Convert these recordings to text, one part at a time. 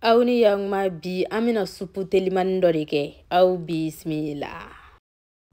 aw ni yakuma bi an bɛna supu telimani dɔ de kɛ aw bisimila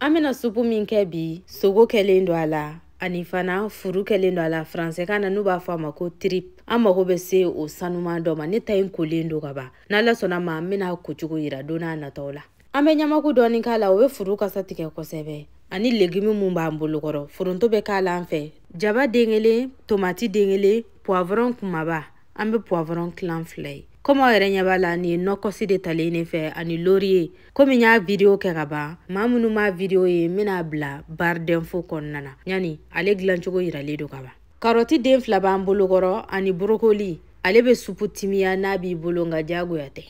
an bɛna supu min kɛ bi sogo kɛlen don a la ani fana furu kɛlen don a la faransɛkan na n'u b'a fɔ a ma ko trip an mago bɛ se o sanuman dɔ ma ne ta in kolen don ka ban n'ala sɔnna a ma an bɛna a ko cogo yira don na nataw la an bɛ ɲamaku dɔɔni k'a la o bɛ furu kasa tigɛ kosɛbɛ ani legimi min b'an bolo kɔrɔ foronto bɛ k'a la an fɛ jaba den kelen tomati den kelen puwavɔrɔn kumaba an bɛ puwavɔrɔn tilan fila ye komi aw yɛrɛ ɲɛ b'a la nin ye nɔkɔsi de talen ne fɛ ani loriye komi n y'a vidiyo kɛ ka ban maa minnu m'a vidiyo ye n bɛna a bila barre d'info kɔnɔna na yani ale dilancogo yiralen don ka ban karɔti den fila b'an bolokɔrɔ ani borokoli ale bɛ supu timiya n'a b'i bolo nka diyagoya tɛ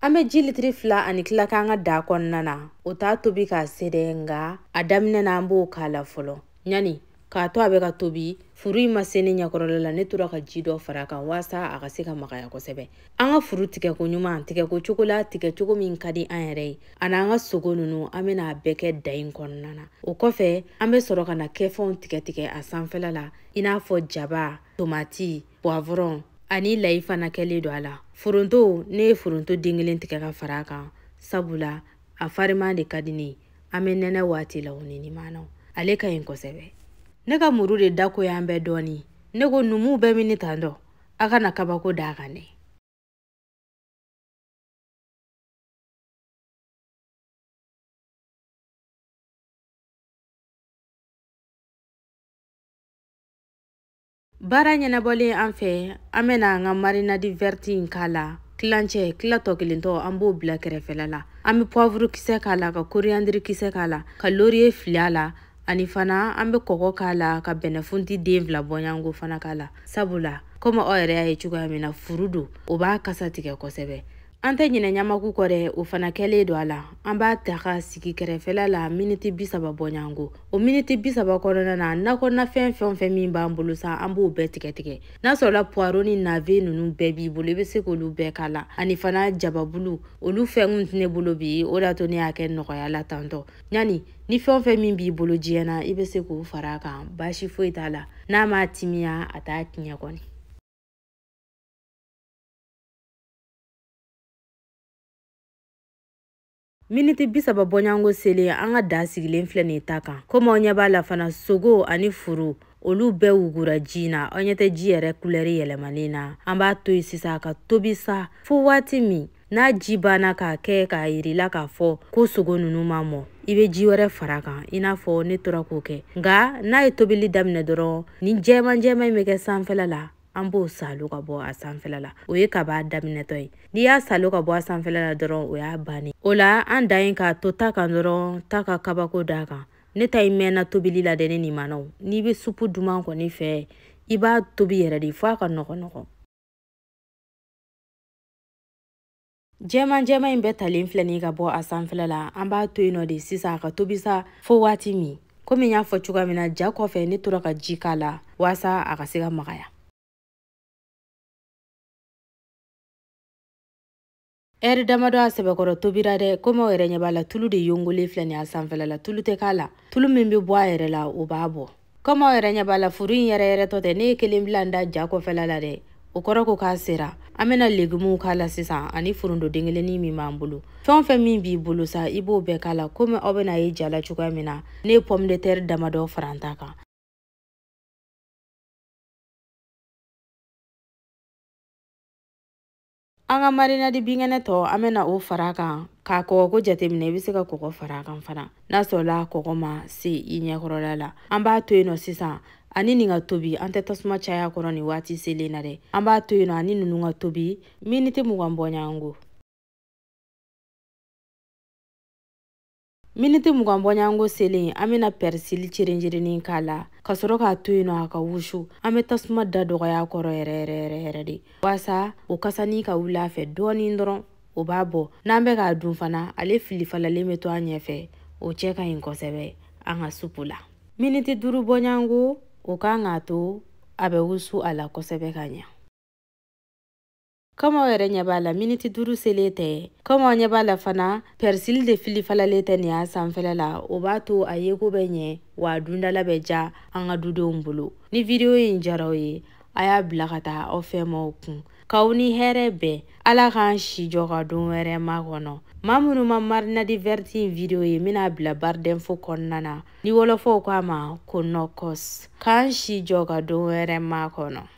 An bɛ ji litiri fila ani tila k'an ka daa kɔnɔna na o t'a tobi k'a se dɛ nka a daminɛ na an b'o k'a la fɔlɔ ɲani k'a to a bɛ ka tobi furu in ma se ne ɲɛkɔrɔla la ne tora ka ji dɔ fara a kan waasa a ka se ka magaya kosɛbɛ an ka furu tigɛ koɲuman tigɛko cogo la tigɛ cogo min ka di an yɛrɛ ye ani an ka sogo ninnu an bɛna a bɛɛ kɛ daa in kɔnɔna na o kɔfɛ an bɛ sɔrɔ ka nakɛfɛnw tigɛ tigɛ a sanfɛla la i n'a fɔ jaba tomati puwavɔrɔn ani layi fana kɛlen don a la foronto ne ye foronto den kelen tigɛ ka fara a kan sabula a fariman de ka di ne ye an bɛ nɛnɛ waati la o ni nimanaw ale ka ɲi kosɛbɛ ne ka muru de da goyalen bɛ dɔɔni ne ko numu bɛ minɛ tan dɔ a kana kabako da a kan dɛ baara ɲɛnabɔlen an fɛ an bɛna an ka marinadi vɛriti in k'a la tilancɛ tila tɔ kelen tɔ an b'o bila kɛrɛfɛla la an bɛ pɔvuru kisɛ k'a la ka koriyandiri kisɛ k'a la ka loriye fili a la ani fana an bɛ kɔgɔ k'a la ka bɛnɛfunti den fila bɔɲango fana k'a la sabula komi aw yɛrɛ y'a ye cogoya min na furu don o b'a kasa tigɛ kosɛbɛ an tɛ ɲinɛ ɲamaku kɔ dɛ o fana kɛlen don a la an b'a ta ka sigi kɛrɛfɛla la miniti bi saba bɔɲanko o miniti bi saba kɔnɔna na nakɔnafɛn fɛn o fɛn min b'an bolo sa an b'o bɛɛ tigɛ tigɛ n'a sɔrɔla puwaro ni nave ninnu bɛɛ b'i bolo i bɛ se k'olu bɛɛ k'a la ani fana jababulu olu fɛn tɛ ne bolo bi o de y'a to ne y'a kɛ nɔgɔya la tan tɔ ɲani ni fɛn o fɛn min b'i bolo diɲɛ na i bɛ se k'o fara a kan baasi foyi t'a la n'a m'a timiya a t'a tiɲɛ kɔni miniti bisaba bɔɲango selen an ka daa sigilen filɛ nin ye ta kan komi aw ɲɛ b'a la fana sogo ani furu olu bɛɛ wugura ji na aw ɲɛ tɛ ji yɛrɛ kulɛri yɛlɛmalen na an b'a to yen sisan ka tobi sa fo waati min n'a ji banna k'a kɛ k'a yirila k'a fɔ ko sogo ninnu ma mɔ i bɛ ji wɛrɛ fara a kan i n'a fɔ ne tora k'o kɛ nka n'a ye tobili daminɛ dɔrɔn nin jɛman jɛman in bɛ kɛ sanfɛla la an b'o saalo ka bɔ a sanfɛla la o ye kab'a daminɛtɔ ye n'i y'a saalo ka bɔ a sanfɛla la dɔrɔn o y'a bannen o la an dan ye k'a to ta kan dɔrɔn ta ka kabako d'a kan ne ta in mɛnna tobili la dɛ ne nimanaw n'i bɛ supu duman kɔni fɛ i b'a tobi yɛrɛ de fo a ka nɔgɔ nɔgɔ jɛman jɛman in bɛɛ talen filɛ nin ka bɔ a sanfɛla la an b'a to yen nɔ de sisan a ka tobi sa fo waati min komi n y'a fɔ cogoya min na ja kɔfɛ ne tora ka ji k'a la waasa a ka se ka magaya ɛri damadɔ a sɛbɛkɔrɔ tobira dɛ komi aw yɛrɛ ɲɛ b'a la tulu de yongolen filɛ nin a sanfɛla la tulu tɛ k'a la tulu min bɛ bɔ a yɛrɛ la o b'a bɔ kɔmi aw yɛrɛ ɲɛ b'a la furu in yɛrɛ yɛrɛ tɔ tɛ ne ye kelen bila n da ja kɔfɛla la dɛ o kɔrɔ ko k'a sera an bɛna legumuw k'a la sisan ani foronto den kelennin min b'an bolo fɛn o fɛn min b'i bolo sa i b'o bɛɛ k'a la komi aw bɛn'a ye ja la cogoya min na ne ye pomme de terre damadɔ fara n ta kan an ka marinadi binkɛnɛ tɔ an bɛna o fara a kan k'a kɔgɔko jateminɛ i bɛ se ka kɔgɔ fara kan fana n'a sɔrɔla kɔgɔ ma se i ɲɛkɔrɔla la an b'a to yen nɔ sisan ani nin ka tobi an tɛ tasuma caya a kɔrɔ nin waati selen na dɛ an b'a to yen nɔ ani ninnu ka tobi miniti mugan bɔɲɔgɔnko miniti mugan bɔɲɔgɔnko selen an bɛna pɛrisili cerenjereni k'a la ka sɔrɔ k'a to yen nɔ a ka wusu an bɛ tasuma da dɔgɔya kɔrɔ yɛrɛ yɛrɛ yɛrɛ yɛrɛ de waasa o kasanin ka wuli a fɛ dɔɔnin dɔrɔn o b'a bɔ n'an bɛ k'a dun fana ale fili falalen bɛ to an ɲɛfɛ o cɛ ka ɲi kosɛbɛ an ka supu la miniti duuru bɔɲɔgɔnko o kan k'a to a bɛ wusu a la kosɛbɛ ka ɲɛ komi aw yɛrɛ ɲɛ b'a la miniti duuru selen tɛ komi aw ɲɛ b'a la fana pɛrisili de fili falalen tɛ nin y'a sanfɛla la o b'a to a yeko bɛ ɲɛ wa a dundala bɛ diya an ka dudenw bolo ni vidiyo in diyara aw ye a y'a bila ka taa aw fɛmaaw kun k'aw ni hɛrɛ bɛn ala k'an si jɔ ka don wɛrɛ makɔnɔ maa minnu ma marinadi vɛriti in vidiyo ye n bɛn'a bila barre d'info kɔnɔna na ni wɔlɔfɔw ko a ma ko nɔkɔs k'an si jɔ ka don wɛrɛ makɔnɔ